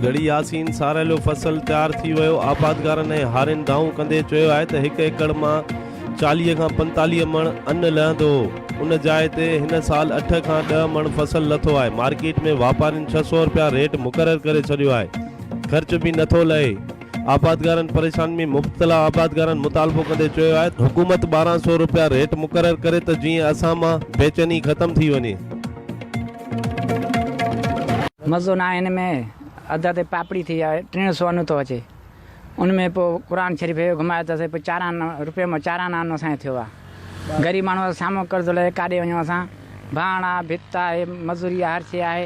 گڙهي ياسين ساريلو فصل تيار ٿي ويو آبادگارن ۽ هارين دانهون ڪندي چيو آهي ته هڪ ايڪڙ مان چاليهه کان پنتاليهه مڻ ان لهندو هو ان جاء تي هن سال اٺ کان ڏهه مڻ فصل لٿو آهي مارڪيٽ ۾ واپارين ڇهه سؤ رپيا ريٽ مقرر ڪري ڇڏيو آهي خرچ به نه ٿو لهي، آبادگارن پريشانين ۾ مبتلا آبادگارن مطالبو ڪندي چيو آهي ته حڪومت ٻارهن سؤ رپيا ريٽ مقرر ڪري ته جيئن اسان مان بيچيني ختم ٿي وڃي. مزو ناهي ان ۾ اڌ اڌ پاپڙي ٿي آهي ٽيڻ سو ان ٿو اچي ان ۾ پو قرآن شريف هيو گهمايو ته سهي پو چاران روپيو مان چاران آنو سائين ٿيو آ غريب ماڻهو سامو قرض لهي ڪاڏي وڃون اسان ڀاڻ آ ڀت آهي مزوري آ هر شي آهي.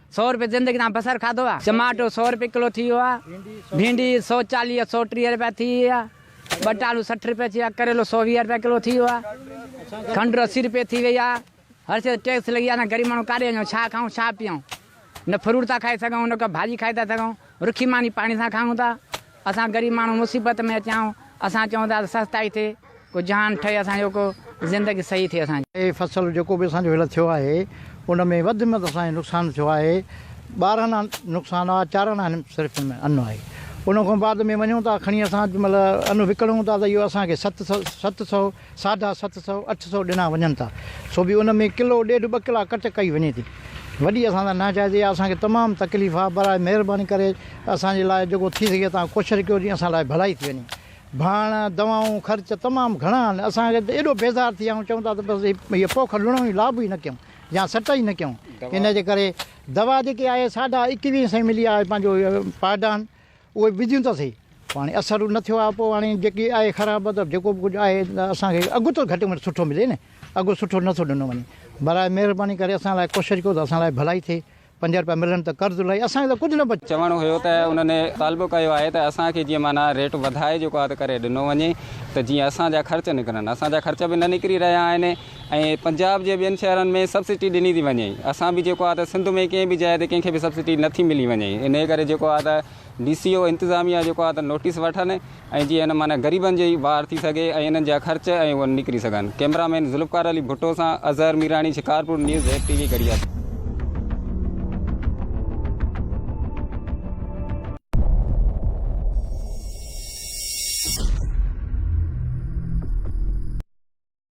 سؤ رپيه زندگي تان بصر کاڌو آ چماٽو سؤ رپيه ڪلو ٿي ويو آ ڀينڊي سؤ چاليهه سؤ ٽيهه رپيا ٿي وئي آ ٻٽالو سٺ رپيه ٿي ويو آ ڪريلو سؤ ويهه رپيا ڪلو ٿي ويو آ کنڊ اسي رپيه ٿي وئي آ هر شي ٽيڪس لڳي آ اسان غريب ماڻهو ڪاڏي وڃون ڇا کائون ڇا پيئون نه فروٽ ٿا کائي سگهون نه ڪا ڀاڄي کائي ٿا سگهون رکي ماني پاڻي سان کائون ٿا اسان غريب ماڻهو مصيبت ۾ اچيائون اسان چئون ٿا ته سستائي ٿئي ڪو جهان ٺهي اسان جو ڪو زندگي صحيح ٿئي اسان جي. هي فصل جيڪو به اسان جو هيل ٿيو آهي ان ۾ وڌ ۾ وڌ اسان جو نقصان ٿيو آهي ٻارهن آن نقصان آهي چار آنا هن صرف ان ۾ ان آهي ان کان بعد ۾ وڃون ٿا کڻي اسان جنهن مهل ان وڪڻون ٿا ته اهو اسان کي ست سو ست سو ساڍا ست سؤ، اٺ سؤ ڏنا وڃن ٿا، سو به ان ۾ ڪلو ڏيڍ ٻه ڪلا ڪٽ ڪئي وڃي ٿي. وڏي اسان سان ناجائزي آهي، اسان کي تمام تڪليف آهي، برائي مهرباني ڪري اسان جي لاء جيڪو ٿي سگهي توهان ڪوشش ڪيو جيئن اسان لاء ڀلائي ٿي وڃي. ڀاڻ، دوائون، خرچ تمام گهڻا آهن، اسان کي ته ايڏو بيزار ٿي ويا آهيون، چئون ٿا ته بس هي پوک لڻون ئي لابو ئي نه ڪيون يا سٽ ئي نه ڪيون، ان جي ڪري دوا جيڪي آهي ساڍا ايڪويهه سئي ملي آهي پنهنجو پائڊان، اهي وجهيون ته سهي پوء هاڻي اثر نه ٿيو آهي پوء هاڻي جيڪي آهي خراب ته جيڪو به ڪجهه آهي اسان کي اگهه ته گهٽ ۾ گهٽ سٺو ملي نه اگهه سٺو نه ٿو ڏنو وڃي برائي مهرباني ڪري اسان لاء ڪوشش ڪيو ته اسان لاء ڀلائي ٿئي پنج رپيا ملن ته قرض لهي اسان کي ته ڪجهه نه بچي. چوڻ هيو ته انهن مطالبو ڪيو آهي ته اسان کي جيئن معنيٰ ريٽ وڌائي جيڪو آهي ته ڪري ڏنو وڃي ته جيئن اسان جا خرچ نڪرن اسان جا خرچ به نه نڪري رهيا آهن ۽ پنجاب جي ٻين شهرن ۾ سبسڊي ڏني ٿي وڃي اسان به جيڪو آهي ته سنڌ ۾ ڪنهن به جاء تي ڪنهن کي به سبسڊي نٿي ملي وڃي انهي ڪري جيڪو آهي ته ڊي سي او انتظاميا جيڪو آهي ته نوٽيس وٺن ۽ جي ان معنيٰ غريبن جي وار ٿي سگهي ۽ انهن جا خرچ ۽ اهي نڪري سگهن ڪئميرا مين ذوالفقار علي ڀٽو سان Azhar Mirani Shikarpur news Z T V گڙيا.